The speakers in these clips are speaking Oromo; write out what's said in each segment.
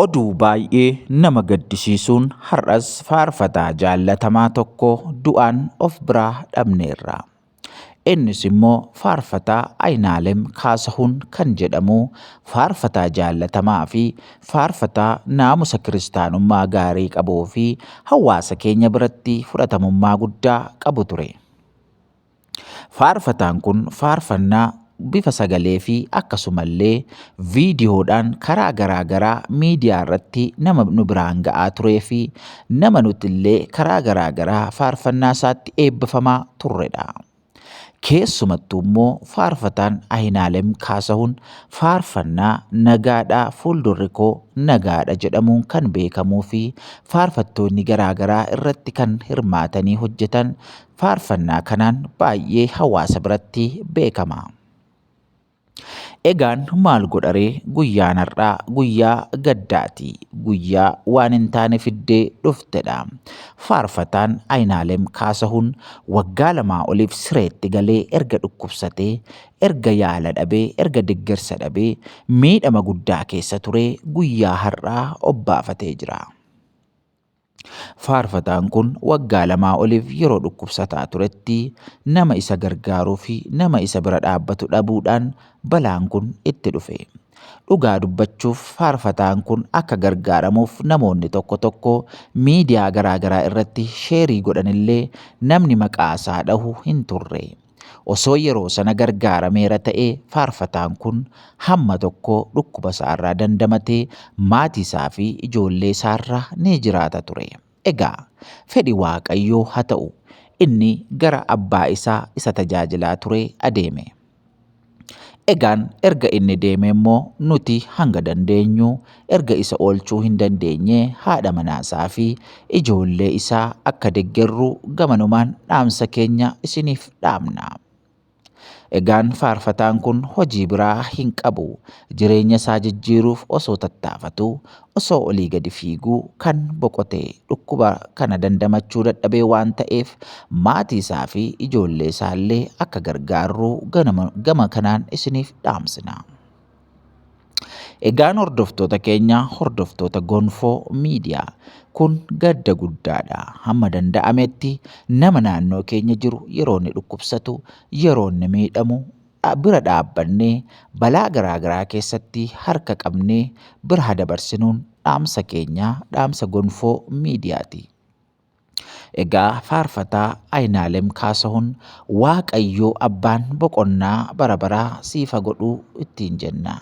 Oduu baay'ee nama gaddisiisuun har'as faarfataa jaallatamaa tokko du'aan of biraa dhabneerra. Innis immoo faarfataa Ayinaalem Kaasahuun kan jedhamu faarfataa jaallatamaa fi faarfataa naamusa kiristaanummaa gaarii qabuu fi hawaasa keenya biratti fudhatamummaa guddaa qabu ture. Faarfataan kun faarfannaa bifa sagalee fi akkasumallee viidiyoodhaan karaa garaa garaa miidiyaa irratti nama nu biraan ga'aa turee fi nama nutillee karaa garaa garaa faarfannaa isaatti eebbifamaa turredha. Keessumattuu immoo faarfataan Ahinaalem Kaasahuun faarfannaa nagaadhaa fuuldurri koo nagaadha jedhamuun kan beekamuu fi faarfattoonni garaa garaa irratti kan hirmaatanii hojjetan Faarfannaa kanaan baay'ee hawaasa biratti beekama. Egaan maal godharee guyyaan har'aa guyyaa gaddaati. Guyyaa waan hin taane fiddee dhuftedha. Faarfataan Ayinaalem Kaasahuun waggaa lamaa oliif sireetti galee erga dhukkubsatee, erga yaala dhabee, erga deggersa dhabee miidhama guddaa keessa turee guyyaa har'aa obbaafatee jira. Faarfataan kun waggaa lamaa oliif yeroo dhukkubsataa turetti nama isa gargaaruu fi nama isa bira dhaabbatu dhabuudhaan balaan kun itti dhufe. Dhugaa dubbachuuf faarfataan kun akka gargaaramuuf namoonni tokko tokko miidiyaa garaagaraa irratti sheerii godhanillee namni maqaa isaa dhahu hin turre. Osoo yeroo sana gargaarameera ta'ee faarfataan kun hamma tokko dhukkuba isaarraa dandamatee maatii isaa fi ijoollee isaarraa ni jiraata ture. Egaa fedhi Waaqayyoo haa ta'u, inni gara abbaa isaa isa tajaajilaa turee adeeme. Egaan erga inni deemee immoo nuti hanga dandeenyu erga isa oolchuu hin dandeenyee haadha manaa isaa fi ijoollee isaa akka deggerru gamanumaan dhaamsa keenya isiniif dhaamna. Egaan faarfataan kun hojii biraa hin qabu. Jireenya isaa jijjiiruuf osoo tattaafatu osoo olii gadi fiiguu kan boqote dhukkuba kana dandamachuu dadhabee waan ta'eef maatiisaa fi ijoolleesaallee akka gargaarru ganama- gama kanaan isiniif dhaamsina. Egaan hordoftoota keenya hordoftoota Gonfoo Miidiyaa kun gadda guddaadha. Hamma danda'ametti nama naannoo keenya jiru yeroo inni dhukkubsatu, yeroo inni miidhamu bira dhaabbannee balaa garaa garaa keessatti harka qabnee bira ha dabarsinuun dhaamsa keenya dhaamsa gonfoo miidiyaati. Egaa faarfataa Ayinaalem Kaasahun Waaqayyoo abbaan boqonnaa bara baraa siifa godhuu ittiin jenna.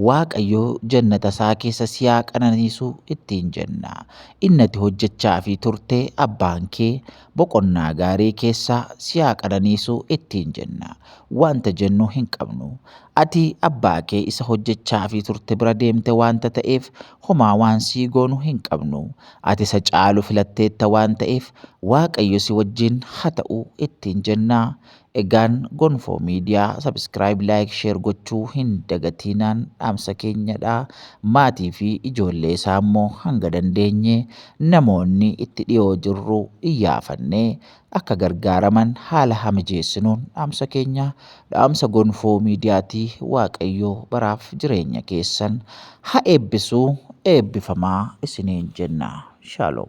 Waaqayyoo jannata isaa keessa siyaa qananiisu ittiin jenna. Innati hojjechaafi turte abbaan kee Boqonnaa gaarii keessa si haa qananiisu ittiin jenna. Wanta jennu hin qabnu. Ati abbaa kee isa hojjechaafii turte bira deemte wanta ta'eef homaa waan sii goonu hin qabnu. Ati isa caalu filatteetta waan ta'eef Waaqayyo si wajjin ha ta'u ittiin jenna. Egaan Gonfoo Media subscribe like share gochuu hin dagatiinaan dhaamsa keenya dha. Maatii fi ijoollee isaa immoo hanga dandeenye namoonni itti dhiyoo jirru iyyaafannee akka gargaaraman haala haa mijeessinuun dhaamsa keenya. Dhaamsa Gonfoo Media ti. Waaqayyo baraaf jireenya keessan ha eebbisu eebbifamaa isiniin jenna. Shalom.